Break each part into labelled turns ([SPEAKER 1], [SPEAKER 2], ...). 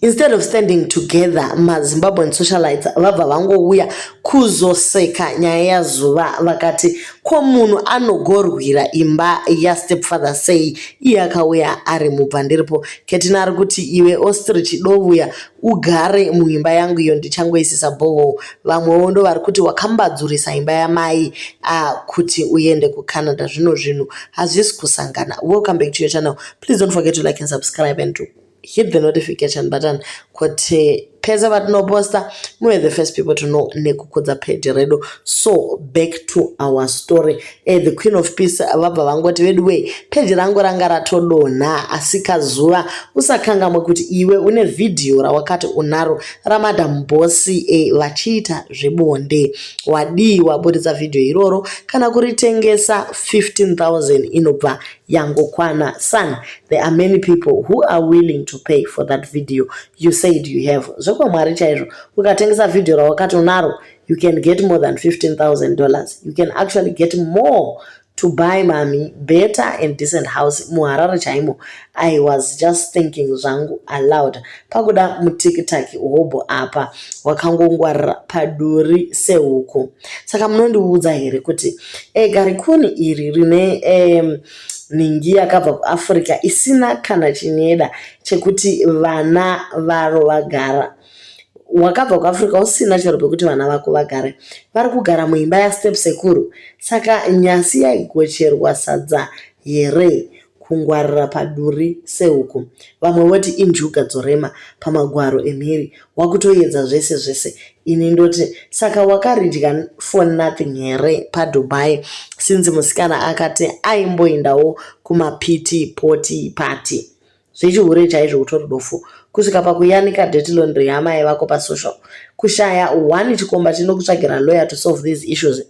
[SPEAKER 1] instead of standing together mazimbabwean socialites vabva vangouya kuzoseka nyaya yazuva vakati ko munhu anogorwira imba yastepfather sei iye akauya ari mubva ndiripo ketina ari kuti iwe ostrich dovuya ugare muimba yangu iyo ndichangoisisa boho vamwewo ndo vari kuti wakambadzurisa imba yamai uh, kuti uende kucanada zvino zvinhu hazvisi kusangana welcome back to your channel please don't forget to like and subscribe and do hit the notification button kuti pese patinoposta muve the first people to know nekukudza page redu so back to our story e, the queen of peace vabva vangoti veduway page rangu ranga ratodonha asi kazuva usakangamwe kuti iwe une vhidhiyo rawakati unaro ramadam bosi e, vachiita zvebonde wadii waburitsa vhidhiyo iroro kana kuritengesa 15000 inobva yangokwana son there are many people who are willing to pay for that video you said you have zvekwamwari chaizvo ukatengesa video rawakati unaro you can get more than 15000 dollars you can actually get more to buy mami better and decent house muharare chaimo i was just thinking zvangu aloud pakuda mutikitaki hobho apa wakangongwarira paduri sehuku saka munondiudza here kuti e, garikuni iri rine um, nhingi yakabva kuafrica isina kana chinyeda chekuti vana varo vagara wakabva kuafrica usina chero pekuti vana vako vagare vari kugara muimba yastep sekuru saka nyasi yaigocherwa sadza here kungwarira paduri sehuku vamwe voti injuga dzorema pamagwaro emhiri wakutoyedza zvese zvese ini ndoti saka wakaridya for nothing here padubai since musikana akati aimboendawo kumapiti poti pati zvechihure chaizvo kutori dofu kusvika pakuyanika deti londry yamai vako pasocial kushaya one chikomba chinokutsvagira lawyer to solve these issues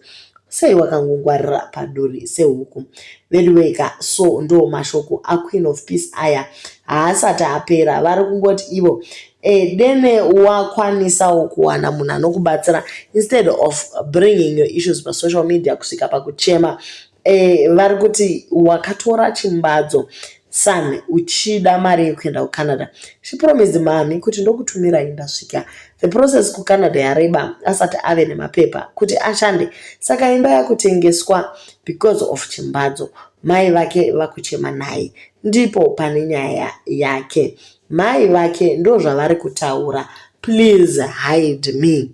[SPEAKER 1] sei wakangongwarira paduri sehuku veduweka so ndo mashoko aqueen of peace aya haasati apera vari kungoti ivo e, dene wakwanisawo kuwana munhu anokubatsira instead of bringing your issues pasocial media kusvika pakuchema e, vari kuti wakatora chimbadzo Son uchida mari yekuenda kuCanada. She promised mami kuti ndokutumirai ndasvika. The process kuCanada yareba asati ave nemapepa kuti ashande saka imba yakutengeswa because of chimbadzo. Mai vake vakuchema naye ndipo pane nyaya yake. Mai vake ndozvavari kutaura please hide me.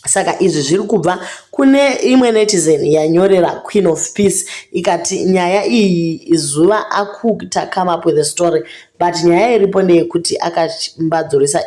[SPEAKER 1] saka izvi zviri kubva kune imwe netizen yanyorera queen of peace ikati nyaya iyi zuva akuta come up with a story but nyaya iripo ndeyekuti akambadzoresa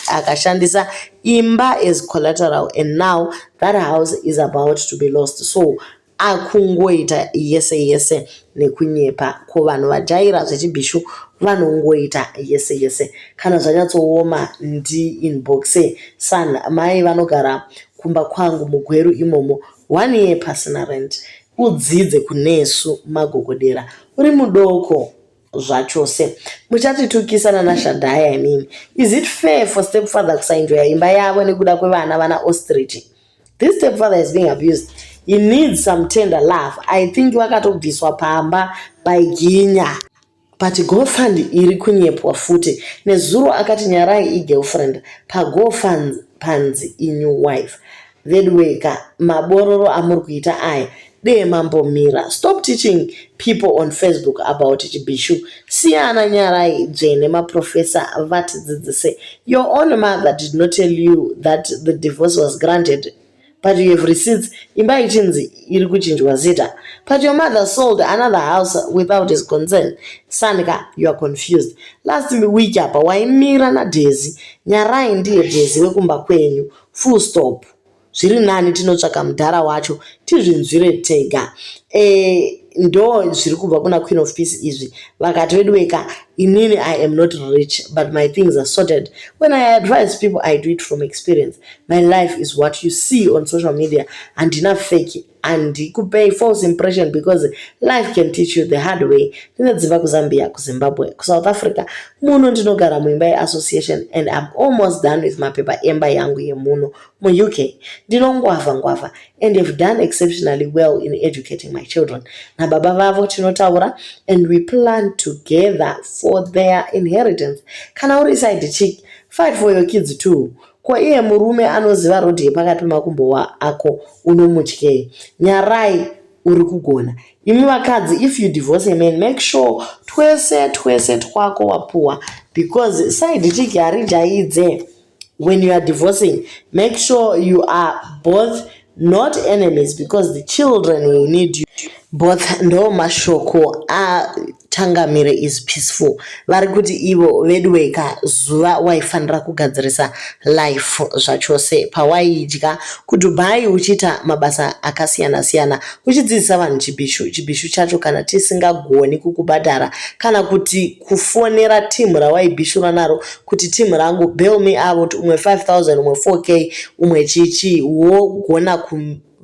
[SPEAKER 1] akashandisa imba as collateral and now that house is about to be lost so akungoita yese yese nekunyepa ko vanhu vajaira zvechibhishu vanongoita yese yese kana zvanyatsooma ndi inboxe san mai vanogara kumba kwangu mugweru imomo one year pasina rent udzidze kunesu magogodera uri mudoko zvachose muchatitukisa nanashadhaya imimi is it fair for stepfather kusainjoya imba yavo nekuda kwevana vana ostrich This stepfather is being abused. He needs some tender love. I think vakatobviswa pamba by Ginya. But GoFund iri kunyepwa futi. Nezuro akati nyarai igirlfriend pa GoFund panzi inew wife. Veduweka mabororo amuri kuita aya Dee mambo Mira stop teaching people on Facebook about chibishu siyana nyarai dzvene maprofessor vatidzidzise your own mother did not tell you that the divorce was granted but you have receipts imba ichinzi iri kuchinjwa zita but your mother sold another house without his concern sanika you are confused last week apa waimira nadhezi nyarai ndiye dhezi wekumba kwenyu full stop zviri nani tinotsvaka mudhara wacho tizvinzwire tega e, ndo zviri kubva kuna queen of peace izvi vakati veduweka inini i am not rich but my things are sorted when i advise people i do it from experience my life is what you see on social media handina feki handikupei false impression because life can teach you the hard way ndinodzimba kuzambia kuzimbabwe kusouth africa muno ndinogara muimba yeassociation and im almost done with mapepa emba yangu yemuno muuk ndinongwavha ngwavha and have done exceptionally well in educating my children nababa vavo tinotaura and we plan together for their inheritance kana uri side chick fight for your kids too Ko iye murume anoziva road yepakati pemakumbo wa ako unomutyei? Nyarai uri kugona. Imi vakadzi if you divorce a man make sure twese twese twako wapuwa because side chick harijaidze when you are divorcing make sure you are both not enemies because the children will need you both ndo mashoko atangamire is peaceful vari kuti ivo veduweka zuva waifanira kugadzirisa life zvachose pawaidya kudubai uchiita mabasa akasiyana siyana uchidzidzisa vanhu chibishu chibishu chacho kana tisingagoni kukubhadhara kana kuti kufonera team rawaibishura naro kuti team rangu bail me out umwe 5000 umwe 4k umwe chichi wogona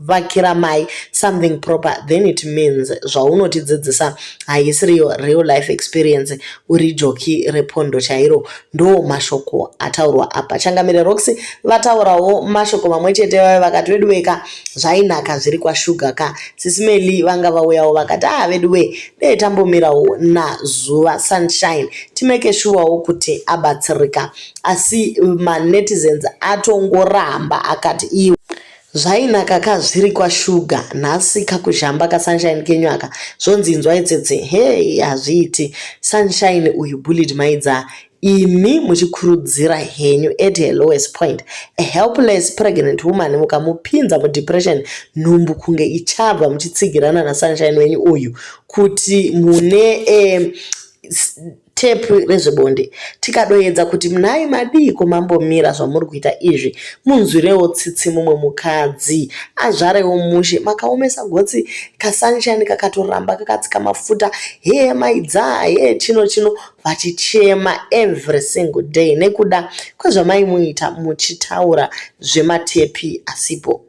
[SPEAKER 1] kuvakira mai something proper then it means zvaunotidzidzisa haisiriyo real life experience uri joki repondo chairo ndo mashoko ataurwa apa changamire roxy vataurawo mashoko mamwe chete vave vakati veduweka zvainaka zviri kwashuga ka sisimeli vanga vauyawo vakati aa ah, veduwe dai tambomirawo nazuva sunshine timeke shuwawo kuti abatsirika asi manetizens atongoramba akati iwe zvainaka ka zviri kwashuga nhasi kakuzhamba kasunshine kenyu aka zvonzi inzwa itsetse hei hazviiti sunshine uyu bullied maidza imi muchikurudzira henyu at her lowest point a helpless pregnant woman mukamupinza mudepression nhumbu kunge ichabva muchitsigirana nasunshine wenyu uyu kuti mune eh, tepu rezvebonde tikadoedza kuti munai madiiko mambomira zvamuri kuita izvi munzwirewo tsitsi mumwe mukadzi azvarewo mushe makaomesa gotsi kasanshani kakatoramba kakatsika mafuta hee maidzaa hee chino chino vachichema every single day nekuda kwezvamaimuita muchitaura zvematepi asipo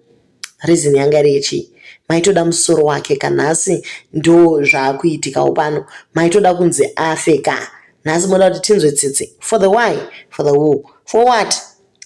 [SPEAKER 1] reason yanga iri yechii maitoda musoro wake ka nhasi ndo zvaakuitikawo pano maitoda kunzi afe ka nhasi moda kuti tinzwe tsitsi for the why for the who for what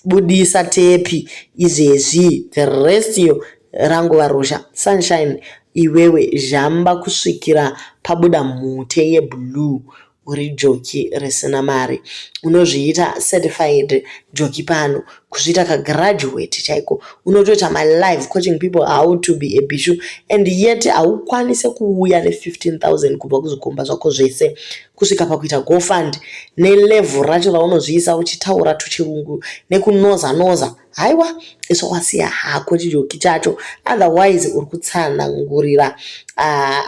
[SPEAKER 1] Budisa tepi izvezvi the rest yo rangova ruzha. Sunshine iwewe zhamba kusvikira pabuda mhute yeblue uri joki risina mari. Unozviita certified joki pano kuzviita kagraduate chaiko. Unotoita my life coaching people how to be a bishu and yet haukwanise kuuya ne 15000 kubva kuzvikomba zvako zvese kusvika pakuita gofund nelevel racho raunozviisa uchitaura tuchirungu nekunoza noza haiwa isvo wasiya hako chijoki chacho otherwise uri kutsanangurira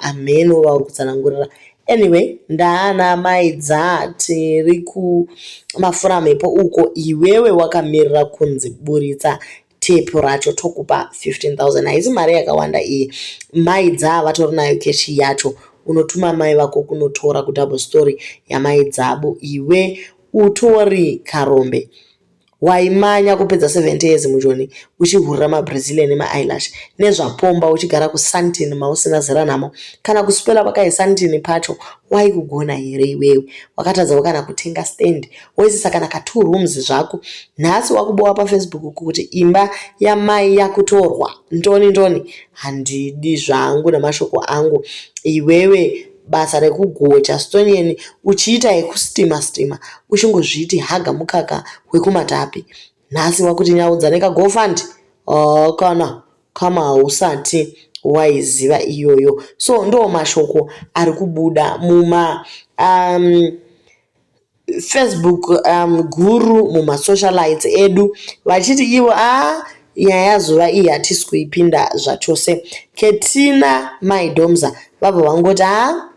[SPEAKER 1] hamheno ah, vauri kutsanangurira anyway ndaana mai dza tiri kumafura mhepo uko iwewe wakamirira kunzi buritsa tepu racho tokupa 15000 haisi mari yakawanda iyi mai dzaa vatori nayo keshi yacho unotuma mai vako kunotora kudouble story yamai dzabu iwe utori karombe waimanya kupedza 70 years mujoni uchihurira mabrazilian nemaeylash nezvapomba uchigara kusantin mausina zera namo kana kusipela kwakaisantin pacho waikugona here iwewe wakatadzawo kana kutenga stand Wese saka naka two rooms zvako nhasi wakubowa pafacebook kuti imba yamai yakutorwa ndoni ndoni handidi zvangu namashoko angu iwewe basa rekugocha stonian uchiita yekustima stima uchingozviti haga mukaka wekumatapi nhasi wakuti nyaudza nekagofund oh, kana kama hausati waiziva iyoyo so ndo mashoko ari kubuda muma um, Facebook um, guru mumasocialites edu vachiti ivo a ah, nyaya yazuva iyi hatisi kuipinda zvachose ketina mai domza vabva vangoti a ah,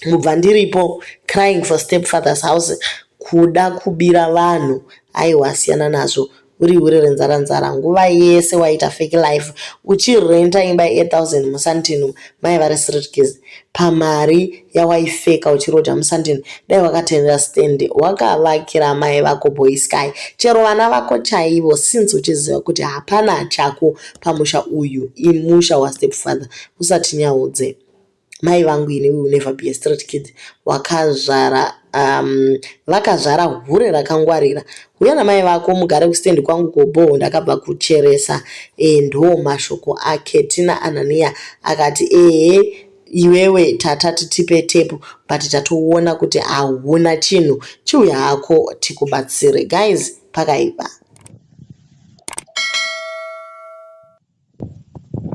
[SPEAKER 1] mubva ndiripo crying for stepfather's house kuda kubira vanhu aiwa siyana nazvo uri hure renzara nzara nguva yese waita fake life uchirenta imba ye 8000 musantino mai vari sritkis pamari yawaifeka uchiroja musantino dai wakatendera stand wakavakira mai vako boy sky chero vana vako chaivo since uchiziva kuti hapana chako pamusha uyu imusha wastep father usatinyaudze mai vangu ini will never be a street kid wakazvara um, vakazvara hure rakangwarira huya namai vako mugare kustendi kwangu kobhoho ndakabva kucheresa e, ndo mashoko ake tina ananiya akati ehe iwewe tata titipe tepu but tatoona kuti hauna chinhu chiuya hako tikubatsire guys pakaipa